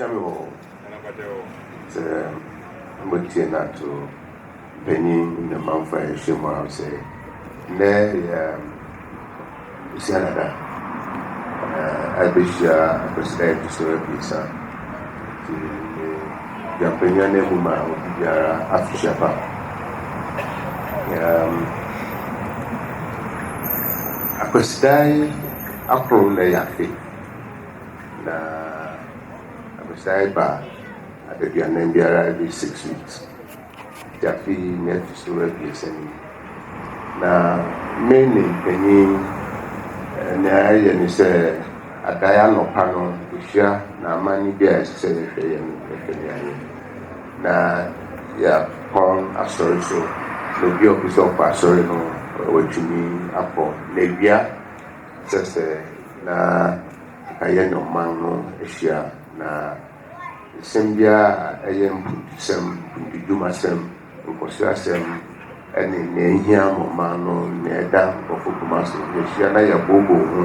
Gya me wɔ hɔ sɛ motie no ato mpanyin ne ɔmanfo a yɛahyia mu ara sɛ nnɛ yɛ Bosia Dada na ɛbɛhyia Akwasida a ɛto so abiɛsa nti me dwampanyin ananmu ma obi biara afehyɛ pa um, Akwasida akron na ɛyɛ afe Na abesae ba adaduanan biara, every six weeks, nti afe yi na ɛto so abiɛsa ni. Na me ne mpanyin, nea ɛyɛ ne sɛ adae anɔpa no yɛhyia na amanne bi a ɛsɛ sɛ yɛhwɛ yɛ no yɛhwɛ ne ayɛ. Na yɛapɔn asɔre so, na obi a ɔpɛ sɛ ɔkɔ asɔre no watumi akɔ. Na awia. Ɛsɛ sɛ na nka yɛne ɔman no hyia, na nsɛm biara a ɛyɛ mpuntusɛm, mpuntudwumasɛm, nkɔsoasɛm, ne nea ehia ma ɔman no, nea ɛda nkurɔfo koma so no, yɛhyia na yɛbooboo ho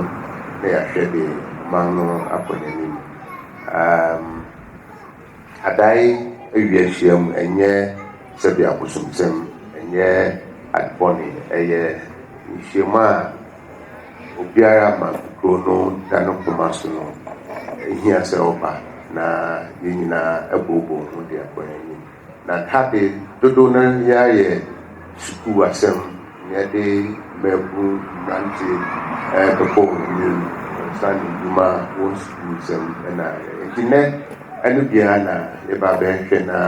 na yɛahwɛ de ɔman no akɔ n'anim. Um, Adae awia hyiam, ɛnyɛ sɛbea abosomsɛm, ɛnyɛ ade bɔne, ɛyɛ nhyiam a obiara ma kuro no da ne koma so no, ɛhia sɛ ɔba na yɛn nyinaa booboo ho de akɔ yɛn anim. Na tade dodow no ara yɛ sukuu asɛm na yɛde mmabun mmerante bɛkɔ wɔn anim wɔnsa ne nnwuma wɔn sukuu nsɛm na nti nnɛ ɛno biara na yɛba bɛhwɛ na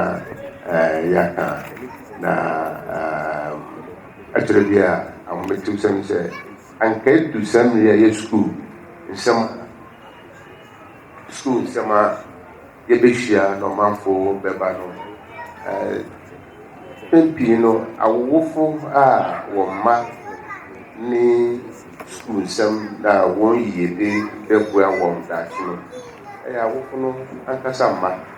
yɛaka na Akyerɛ bi a ahometew-sɛm ne sɛ, anka edu saa mmere yi a ɛyɛ sukuu nsɛm sukuu nsɛm a yebehyia na ɔmanfo bɛba no. Mpɛn pii no, awowofo a wɔn mma ne sukuu nsɛm na wɔn yiyedi bɛboa wɔn daakye no yɛ awofo no ankasa mma.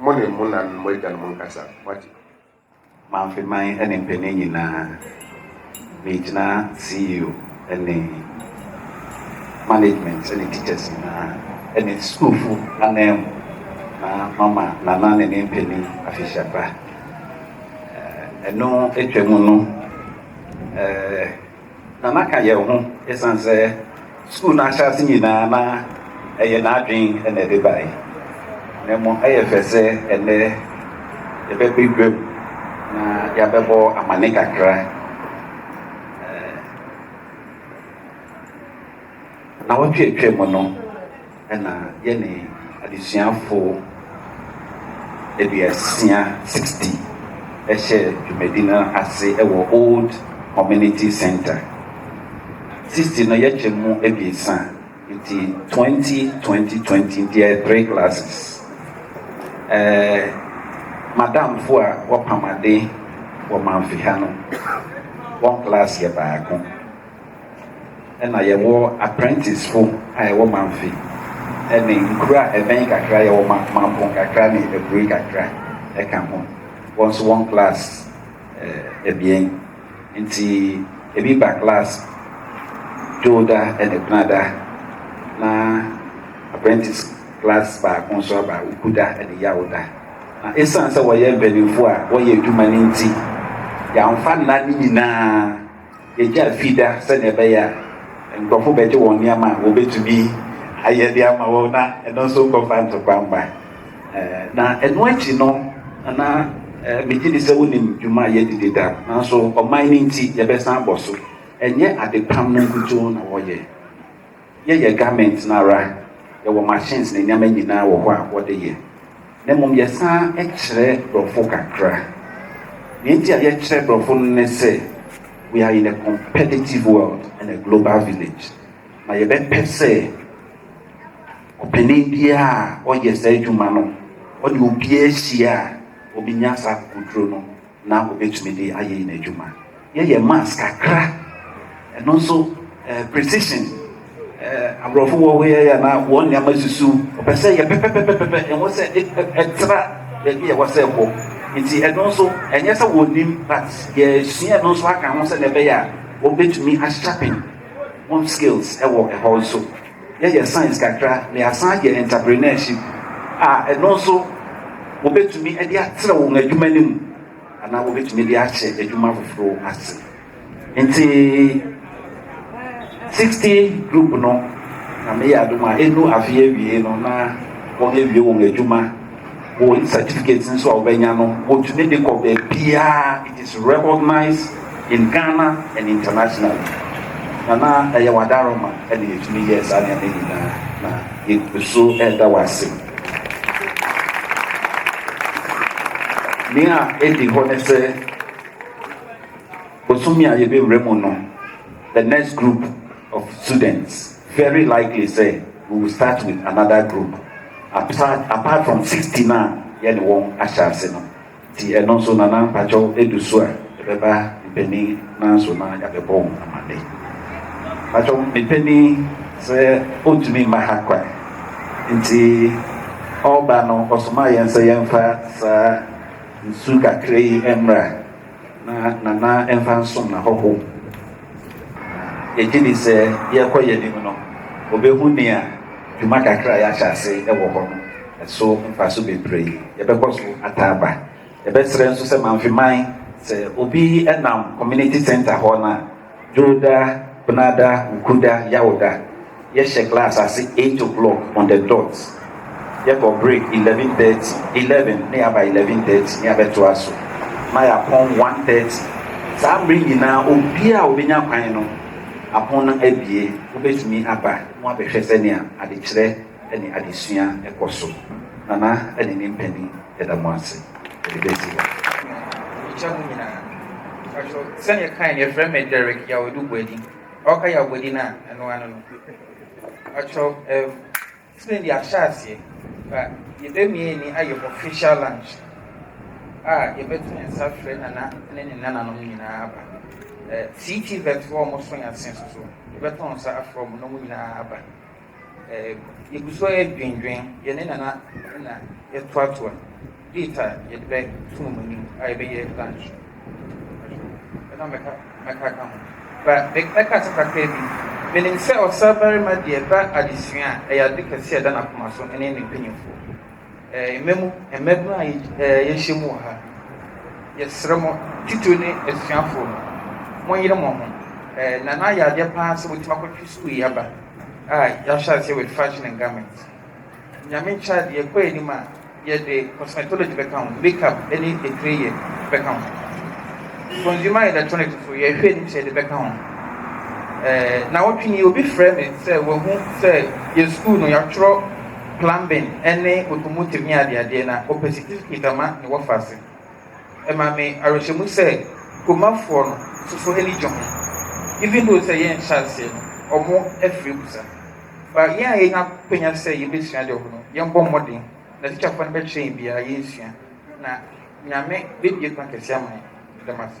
Mo ne mo na mo agyanom nkasa. Moate? M'afe man ne mpanin nyinaa, megyina CEO ne management ne teachers nyinaa ne sukuufo ananmu na mama Nana ne ne mpanin afehyɛba. Ɛno atwam no, eh. Na na ka yɛn ho esiane sɛ sukuu no ahyɛase nyinaa na ɛyɛ n'adwene na ɛde bae. Na mmom ɛyɛ fɛ sɛ ɛnnɛ yɛbɛba guam na yɛabɛbɔ amanne kakra. Nnawɔtwe a etwa mu no na yɛne adesuafo aduosia, sixty, hyɛɛ dwumadi no ase wɔ Old Community Centre. Sixty no yɛtwa mu abiɛsa nti twenty, twenty, twenty nti ɛyɛ three classes. Ɛɛ madamfo a wɔpam ade wɔ Mamfi ha no, wɔn class yɛ baako. na yɛwɔ apprentice-fo a yɛwɔ Mamfe ne nkuro a ɛbɛn kakra, yɛwɔ Mampong kakra ne Aburi kakra ka ho. Wɔn nso wɔn class eh, abien nti ebi ba class Dwoda ne Benada na apprentice class baako nso aba Ukuda ne Yawoda. Na esiane sɛ wɔyɛ mpanimfoɔ a wɔyɛ adwuma no nti, yɛamfa nna no nyinaa Egya fi da sɛnea ɛbɛyɛ a nkurɔfo bɛgye wɔn nneɛma a wɔbetumi ayɛ de ama wɔn na ɛno nso nkɔfa ntokwa mma. Na ɛno akyi no, na migye di sɛ wonim dwuma a yɛadi dedaw. Nanso ɔman no nti, yɛbɛsan abɔ so. Ɛnyɛ adepam no nkutoo na wɔyɛ. Yɛyɛ garment no ara, yɛwɔ machines ne nneɛma nyinaa wɔ hɔ a wɔde yɛ, na mmom yɛsan kyerɛ borɔfo kakra. Nea enti a yɛkyerɛ borɔfo no ne sɛ, we are in a competitive world and a global village, na yɛbɛpɛ sɛ ɔpanin biara a ɔyɛ saa adwuma no, ɔne obiara hyia a, obi nya saa akokoduru no. na wobɛtumi de ayɛ yɛn adwuma. Yɛyɛ mask kakra, ɛno nso eh, precision eh, aborɔfo wɔ hɔ yɛyɛ na wɔn nneɛma susu ɔpɛ sɛ yɛ pɛpɛpɛpɛpɛ ɛho sɛ ɛtra baabi ɛwɔ sɛ ɛkɔ nti ɛno nso ɛnyɛ sɛ wɔnim but yɛsua ɛno nso aka ho sɛ na ɛbɛyɛ a wɔbɛtumi asharpen wɔn skills ɛwɔ ɛhɔ nso Yɛyɛ science kakra na yɛasan ayɛ entrepreneurship a, ɛno nso wobɛtumi de atrɛ wɔn adwuma no mu anaa wobɛtumi de ahyɛ adwuma foforɔ ase. Nti 60 group no na meyɛ adom a ɛnu afei awie no na wɔn awie wɔn adwuma. Wo certificate nso a wobɛnya no, wotumi de kɔ baabiara. It is recognized in Ghana and internationally. Na na ɛyɛ w'adaroma ɛna yɛtumi yɛɛ saa nneɛma nyinaa na yɛgu so ɛda wo ase. Nea ɛdi hɔ ne sɛ bosome a yɛbɛwura mu no, the next group of students Very likely sɛ we will start with another group apart apart from sixty no a yɛne wɔn ahyɛ ase no. Nti ɛno nso Nana mpakyɛw ɛdu so a ɛbɛba mpanin no ara so na yɛabɛbɔ wo amanne. Mpakyɛw me panin sɛ ɔntumi mma ha kwan nti ɔreba no ɔsomaa yɛn sɛ yɛmfa saa nsu kakra yi mmra. Na Nana mfa nsom n'ahɔho. Na yɛgye di sɛ yɛrekɔ yɛn anim no, obehu nea dwuma kakra a yɛahyɛ ase wɔ hɔ no, ɛso mfaso bebree. Yɛbɛkɔ so ata aba. Yɛbɛsrɛ nso sɛ Mamfeman, sɛ obi nam Community Centre hɔ no a, Dwoda, Benada, Wukuda, Yawda, Yɛhyɛ class ase eight o'clock on the dot, yɛkɔ break eleven thirty, eleven na yɛaba eleven thirty na yɛabɛtoa so na yɛapɔn one thirty. Saa mmere nyinaa obiara a obenya kwan no apon no abue, wobetumi aba na wɔabɛhwɛ sɛnea adekyerɛ. ne adesua kɔ so. Nana ne ne mpanin da mo ase de besi hɔ. Mekyia mo nyinaa. Mpakyɛw, sɛnea ɛkae no, yɛfrɛ me Derrick Yawedu Boadi. Ɔka Yaw Boadi no a, ɛno ara ne no. Mpakyɛw, ɛm, sɛ nea ahyɛ aseɛ, ba yɛbɛmie ni ayɛ official lunch a yɛbɛto yɛn nsa frɛ Nana ne ne nananom nyinaa aba. Ɛ, CTVET foɔ a wɔso yɛn ase nso so, yɛbɛto nsa afrɛ wɔn na wɔn nyinaa aba. yɛgu so ara dwinnwin, yɛn ne Nana na yɛtoatoa date a yɛde bɛto wɔn anim a yɛbɛyɛ lunch. Ɛna mɛka mɛka ka ho. Ba mɛka asɛm kakra bi. Menim sɛ ɔsabarima deɛ ɛba adesua a, ɛyɛ ade kɛse a ɛda n'akoma so ne ne mpanyimfoɔ. Mma mu, mmabunu a yɛahyia mu wɔ ha no, yɛsrɛ mo, titiriw ne asuafo no, monyere mo ho. Na na ayɛ adeɛ paa sɛ motumi akɔtwe sukuu yi aba a yɛahyɛ aseɛ with fashion and garments. Nyame nkyɛ adeɛ, yɛkɔ anim a, yɛde cosmetology bɛka ho, makeup ne etire yɛ bɛka ho. Consumer electronics nso, yɛhwɛ anim sɛ yɛde bɛka ho. Na wɔtwe ni obi frɛ me sɛ wahu sɛ yɛ sukuu no yɛatwerɛ Plumbing ne automotive ne adeadeɛ na ɔpɛ certificate ama ne wɔfa ase. Ɛma me awerɛhyɛmu sɛ Kuromafoɔ no soso ani gye ho even though sɛ yɛn nhyɛ aseɛ no wɔn afiri mu sa. But yɛn a yɛnya akwanya sɛ yɛbɛsua deɛ ɔho no yɛn bɔ mmɔden na teacherfoɔ no bɛkyerɛ yɛn biara yɛn sua na Nyame bɛbue kwan kɛseɛ ama yɛn. Meda mo ase.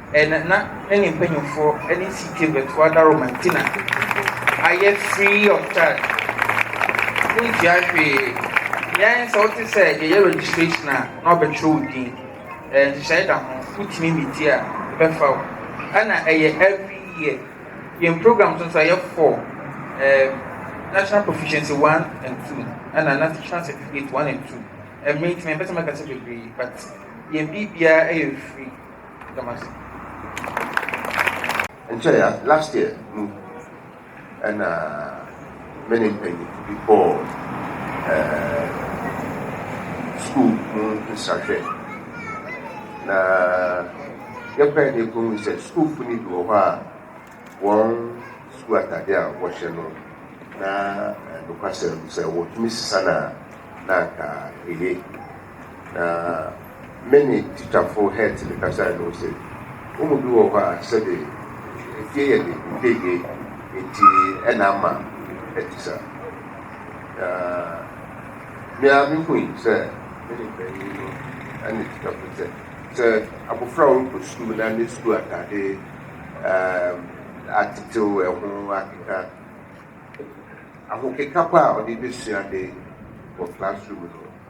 Ɛna na ne mpanyimfoɔ ne CK Bɛtoa Daro Mantina ayɛ free of charge, wontua hwee. Yɛn sɛ wote sɛ yɛyɛ registration a na wɔbɛtwerɛ wo din, nhyehyɛe da ho, wotumi metie a yɛbɛfa wo. Ɛna ɛyɛ every year. Yɛn programs nso ɛyɛ four, um, National Proficiency one and two, ɛna National Certificate one and two. Ɛmmere nti mempɛ sɛ mɛkasa bebree but yɛn biribiara yɛ free. Nkyɛe a, last year mu na me ne mpanyimfo bi kɔɔ skuul mu nsrahwɛ, na yɛkɔe na yekohun sɛ skuulfo no bi wɔ hɔ a, hɔn skuul ataade a wɔhyɛ no, na nokwasɛm no, sɛ wotumi sesa no a, nna anka eye. Na me ne tikyafo Hertl kasae no, ose, Wɔn mu bi wɔ hɔ a sɛbe efie yɛ de mpegye nti na ama ɛte saa. Na me ara mihui sɛ me ne panyin no ne tikyafo sɛ, sɛ abofra a ɔrekɔ sukuu na ne sukuu atade atetew, ɛho akeka, ahokeka pa a ɔde besua ade wɔ classroom no,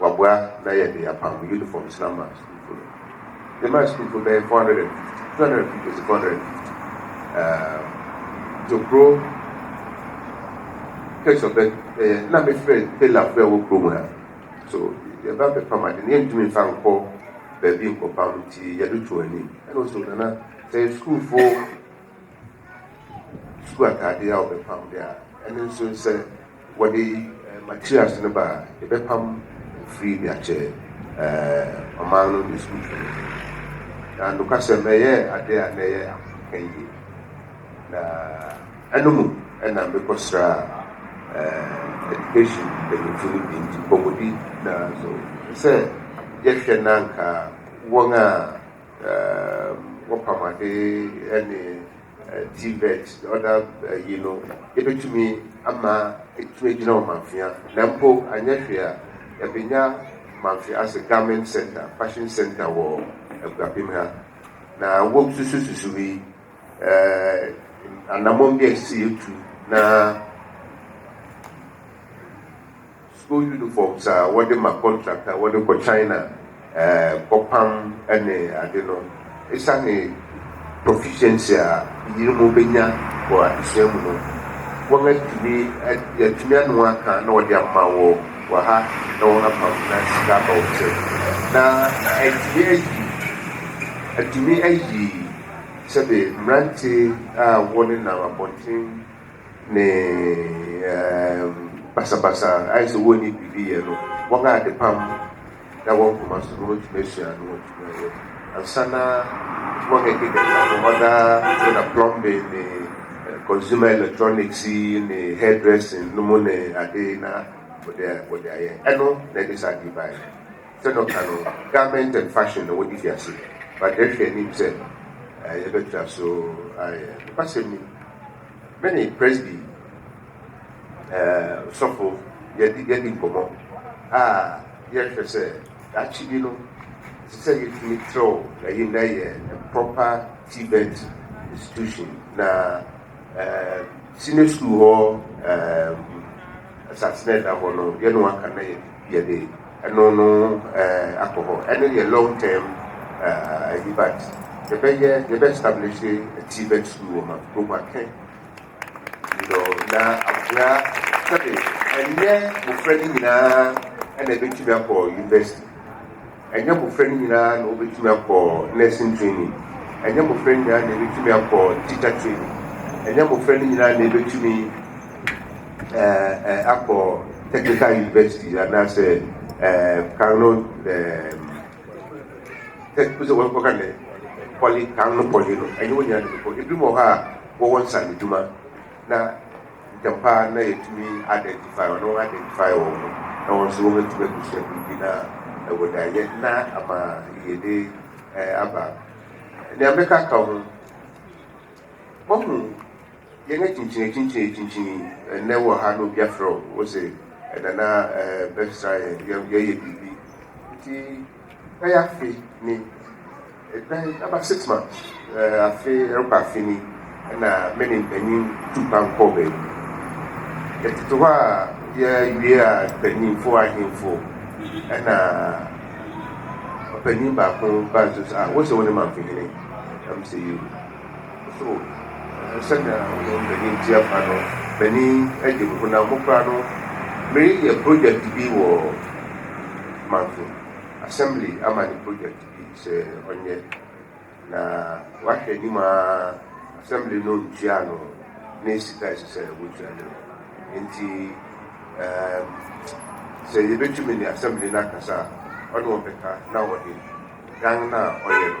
Wɔaboa na yɛde apam unifɔm sra ma sukuufo no. Yɛmaa sukuufo bɛyɛ four hundred and fifty, two hundred and fifty to four hundred and fifty. Ɛɛm, Tokuro case of birth ɛyɛ na mefrɛ tailorfo a ɛwɔ kurom ha. So yɛba bɛpam ade no yɛntumi mfa nkɔ baabi nkɔpam nti yɛde to anim. Ɛna ɔse o Nana sɛ sukuufo sukuu ataadeɛ a wɔbɛpam deɛ a, ɛno nso sɛ wɔde eh, materials no ba a, yɛbɛpam firi de akyɛ eh, ɔman no ne sukuu no. Na nokwasɛm ɛyɛ adeɛ a na ɛyɛ ahomka yie. Na ɛno mu ɛna mekɔsra eh, education mpanyinfo no bi nti nkɔmmɔdi na so sɛ yɛhwɛ na anka wɔn a wɔpam ade ne TVET ne other ayi no, yɛbɛtumi ama atumi agyina wɔ Mamfea. Na mpo anyɛ hwee a, yɛabɛnya Mamfea as a garment center, fashion center wɔ Akuapem ha. Na wɔsusususu yi, anammɔn bi a ɛsɛ sɛ yɛtu na. School uniforms a wɔde ma contract a wɔde kɔ China kɔ pam ne ade no, esiane proficiency a yerenom bɛnya wɔ adesua mu no, wɔatumi yɛatumi ano aka na wɔde ama wɔ wɔ ha na wɔn apam na sika aba wɔn nsam. Na atumi ayi atumi ayi sɛbe mmerante a wɔne nam abɔnten ne um, basabasa, ayɛ sɛ wɔnni biribi yɛ no, wɔn a adepam da wɔn koma so no wɔtumi asua no, wɔtumi ayɛ. Ansa na wɔn a ɛkeka ka ho ɔda yɛ na plumbing ne eh, consumer electronics ne hairdressing no mu ne ade na wɔde wɔde ayɛ. Ɛno na ɛde saa ade baeɛ. Sɛ na ɔka no, garment and fashion na wɔde fi ase. But yɛhwɛ anim sɛ eh, yɛbɛtra so ayɛ. Nokwasɛm ni. Me ne Presby eh, sɔfo yɛadi yɛadi nkɔmmɔ a yɛhwɛ sɛ daakye bi no ɛsɛ sɛ yɛtumi trɛw ɛyi na ɛyɛ proper tibet institution na eh, senior school hɔ eh, asase na ɛda hɔ no yɛne waka na yɛ Yɛde ɛno no akɔ hɔ. Ɛno yɛ long term ayi but yɛbɛyɛ yɛbɛ establishe TVET school wɔ ma Boguakɛ you know na abusua sɛde ɛnyɛ mmofra no nyinaa ɛna ɛbɛtumi akɔ university. Ɛnyɛ mmofra nyinaa na wobetumi akɔ nursing training. Ɛnyɛ mmofra nyinaa na ebetumi akɔ teacher training. Ɛnyɛ mmofra no nyinaa na ebetumi ɛɛ akɔ technical university anaasɛ ɛɛ kan no ɛɛ tech sɛ wɔn kɔka ne poly kan no poly no. Ɛnyɛ wɔn nyinaa na ebekɔ. Ebinom wɔ hɔ a wɔwɔ nsaano adwuma na. Ntɛm pa ara na yɛatumi identify wɔn, na wɔn identify wɔn ho, na wɔn nso wɔatumi abisa biribi na ɛwɔ dan yɛ na ama yɛde eh, aba. Nea mɛka ka ho, wɔhu yɛn akyinkyin akyinkyin akyinkyin ɛnɛ wɔ ha na obi afrɛ wo sɛ ɛnana eh, bɛsra yɛn, yɛyɛ biribi nti Ebɛyɛ afe ni, ebɛn n'abasetena afe rokɔ afe ni na me ne mpanyin tu kwan kɔɔ beebi. Yɛtsetse hɔ a yewie a mpanyimfo ahemfo na ɔpanyin baako baa nsu do dze, ah, wose wo nye Mamfenyin? Dɛm ntsi. So sɛnea woyɛ mpanyin te ampa no? Panyin de me honam mu koraa no, mereyɛ projɛt bi wɔ mansin, asɛmble ama no projɛt bi sɛ ɔnyɛ, na wahwɛ anim ara, asɛmble no ntuaa no ne sika a ɛsɛ sɛ wotua no no. Enti, ɛɛm, sɛ yebetumi ne asɛmble no akasa a, ɔne wɔn bɛka na wɔde dan no a ɔyɛ no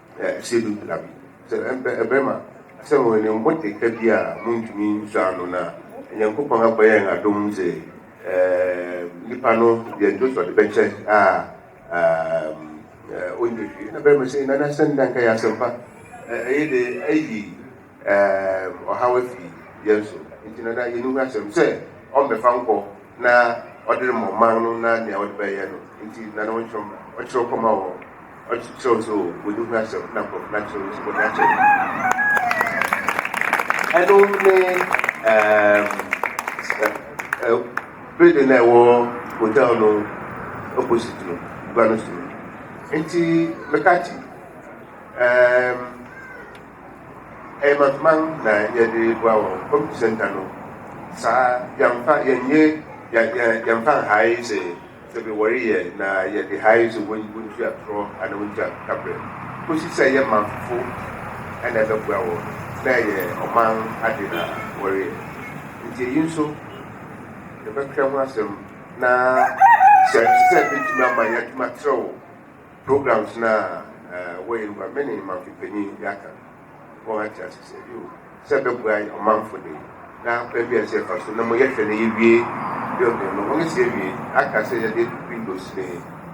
Ɛsɛ bi bra bi. Sɛ ɛbɛ, ɛbɛma sɛ wɔn ne mmote ka bi a montumi nsɔ ano no a, Nyankopɔn abɔ yɛn adom sɛ ɛɛm nipa no deɛ nti ɔde bɛkyɛ a ɛɛm ɔnyɛ hwee. Ɛna bɛma sɛ nanasɛm da nka yɛ asɛmpa ɛyɛ de ayi Ɛɛm, ɔhaw afi yɛn so, enti no na yenni ho asɛm sɛ ɔmmɛfa nkɔ na ɔde rema ɔman no na nea ɔde bɛyɛ no nti na na ɔnkyerɛw mmra. Ɔkyerɛw kɔma wɔn, ɔkyerɛw nso o, wonni ho asɛm na nkurɔfo no akyerɛw no nso bɔne akyɛ no. Ɛno ne ɛɛm ɛ ɛ building no a ɛwɔ hotel no opposite no, gua no so no. Enti meka kye ɛɛm. Ɛyɛ mantuman na yɛde boa wɔ community center no saa yɛnfa yɛnyɛ yɛnfa nhae sɛ sɛ bi wɔreyɛ na yɛde hae sɛ wɔntu atorɔ anaa wɔntu akabrɛ kɔsi sɛ yɛ manfofo ɛna ɛbɛboa wɔ na ɛyɛ ɔman ade na wɔreyɛ nti eyi nso yɛbɛkra ho asɛm na sɛ sɛ bɛtumi ama yɛatumi atrɛw Programs no a wɔyɛ no ma me ne mamfi panyin bi aka wɔn ate ase sɛ yoo sɛ ɛbɛboa yɛn ɔmanfo de na kwan bi a ɛsɛ yɛfa so na mo yɛhwɛ na yɛwie building no wɔn si awie aka sɛ yɛde windows ne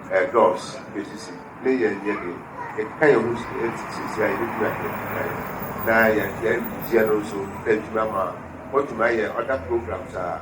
ɛɛ doors yɛsisi ne yɛn yɛ de ɛkeka yɛn ho sisi a yɛbɛtumi ahwɛ na yɛn yɛn no nso na adwuma ma wɔtumi ayɛ other programs a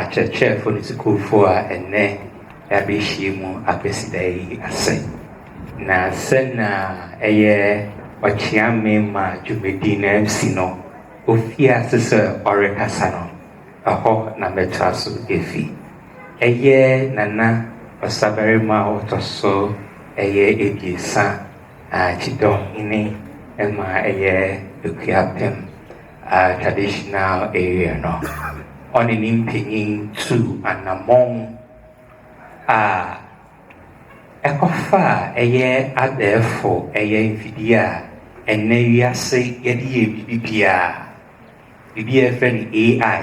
Akyerɛkyerɛfo ne sukuufo a ɛnnɛ wɔabehyia mu Kwasida yi ase, na sɛnea ɛyɛ ɔkyeame ma dwumadi no si no, ofii ase sɛ ɔrekasa no, ɛhɔ na mɛtoa so afi. Ɛyɛ Nana Ɔsabarima a ɔtɔ so ɛyɛ abiɛsa a Kyidɔnhene ma ɛyɛ Akuapem. a traditional area no, ɔne ne mpanyin tuu anammɔn a ɛkɔfaa ɛyɛ abɛɛfo ɛyɛ mfidie a ɛnnɛ wiase yɛde yɛ biribi biara, biribi a yɛfrɛ no AI.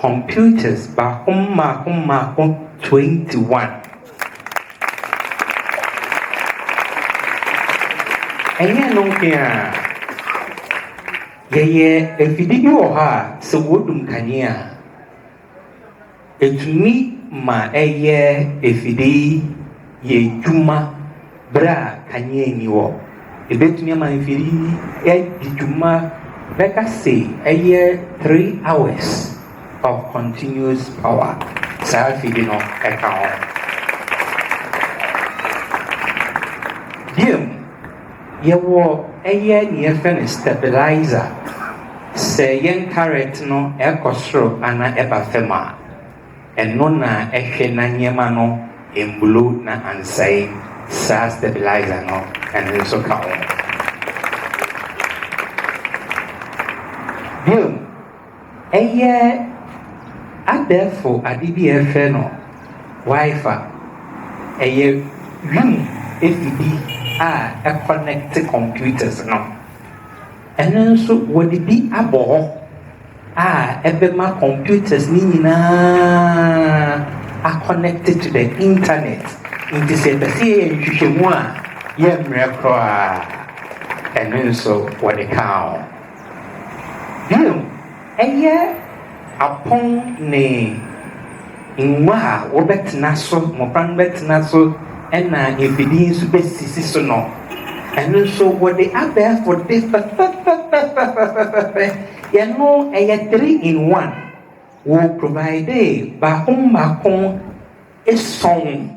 Computers baako mmaako mmaako 21. Ɛnyɛ ɛno nko ara, yɛyɛ afidie bi wɔ hɔ a sɛ wɔdum kanea a, ɛtumi ma ɛyɛ afidie yi. yɛ adwuma berɛ a kanea nni hɔ. Ɛbɛtumi ama mfiri yi adi dwuma bɛka se ɛyɛ three hours of continuous power saa afiri no ɛka ho. Biom, yɛwɔ ɛyɛ neɛ ɛfɛ no stabilizer sɛ yɛn current no ɛkɔ soro anaa ɛba fam a. Ɛno na ɛhwɛ na nneɛma no mbulo na ansɛe saa stabilizer no ɛno nso ka ho. Bio no, ɛyɛ abɛɛfo ade bi a ɛfrɛ no Wi-Fi. Ɛyɛ wim afidi a ɛkɔnɛkte computers no. Ɛno nso wɔde bi abɔ hɔ. a ɛbɛma computers no nyinaa aconnect to the internet. Nti sɛ yɛpɛ sɛ yɛyɛ nhwehwɛmu a, yɛmmerɛ koraa. Ɛno nso wɔde kaa ho. Bio, ɛyɛ apɔn ne Ngua a wɔbɛtsena so, mbofra no bɛtsena so na mfir yi so besisi so no, ɛno so wɔdze abɛɛfo de fɛfɛfɛfɛfɛfɛfɛfɛfɛfɛ, yɛno ɛyɛ three in one, wɔ providee baako mbaako esɔn.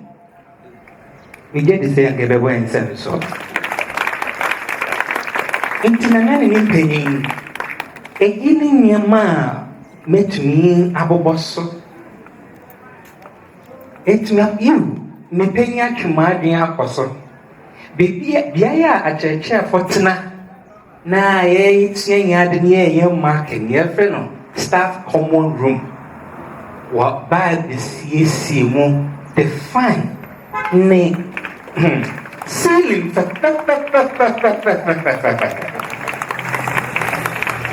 Megye di sɛ anka yɛbɛbɔ yɛn nsam so. Enti na na ne ne mpanyin. Eyi ne nneɛma a mɛtumi abobɔ so. Ɛtumi yiw mepanyin atwe m'adwene akɔ so. Biribi beaeɛ a akyerɛkyerɛfoɔ tena. na yɛresua yɛn ade na yɛreyɛ marking, yɛfrɛ no staff common room. Wɔbaa besiesie mu de fan ne hmm, ceiling fɛfɛfɛfɛfɛfɛfɛfɛfɛfɛ.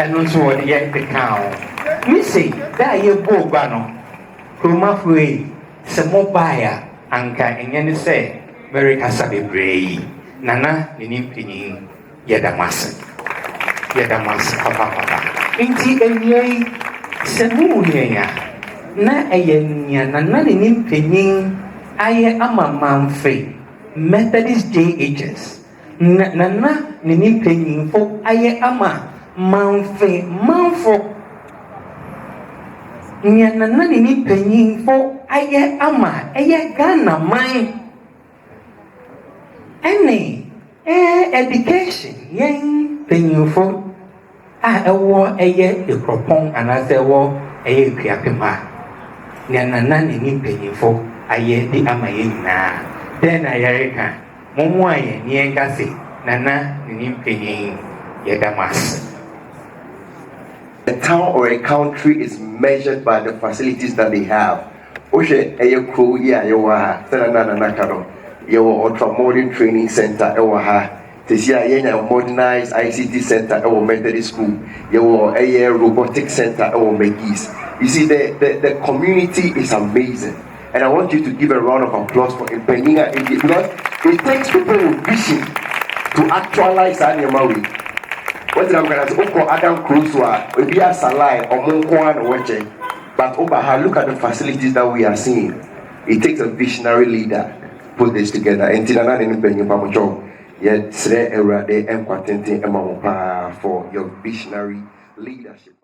Ɛno nso wɔde yɛ de kaa ho. Ne sei, da a yɛbɔɔ gua no, kuromafo yi, sɛ mobaeɛ a, anka ɛnyɛ ne sɛ merekasa bebree yi, Nana ne ne mpanyin Yɛda mo ase. Yɛda mo ase papaapa. Enti awia yi, sɛ muhu yɛn a, na ɛyɛ nea nananini mpanyin ayɛ ama Mamfe Methodist Day Ages, na nananini mpanyimfo ayɛ ama Mamfe manfo, nea nananini mpanyimfo ayɛ ama ɛyɛ Ghanaman. Ɛne ɛɛ education yɛn mpanyinfo a ɛwɔ ɛyɛ ekuropɔn anaasɛ ɛwɔ ɛyɛ ekuapem a nea nana ne ne mpanyinfo ayɛ de ama yɛn nyinaa dɛn na yɛreka mommoa yɛn ne yɛn kase nana ne ne mpanyin yɛda mo ase. A town or a country is measured by the facilities that they have. Wohwɛ ɛyɛ kurow yi a yɛwɔ ha, sɛnea na Nana ka no, yɛwɔ ultra-modern training centre wɔ ha. Seesei a yɛanya modernised ICT centre wɔ Methodist School. Yɛwɔ ɛyɛ robotic centre wɔ McGee's. You see, the, the, the community is amazing. And I want you to give a round of applause for mpanyin a ɛdi because it takes people with vision to actualize saa nneɛma wei. Wɔgyina mu kana sɛ wokɔ Adam kuro so a ebi asa line ɔmo nko ara na wɔkyɛ. But woba ha look at the facilities that we are seeing it takes a visionary leader put this together enti nana ne ne panyin mpamokyɛw yɛsrɛ awurade nkwa tenten ma wo paa for your visionary leadership.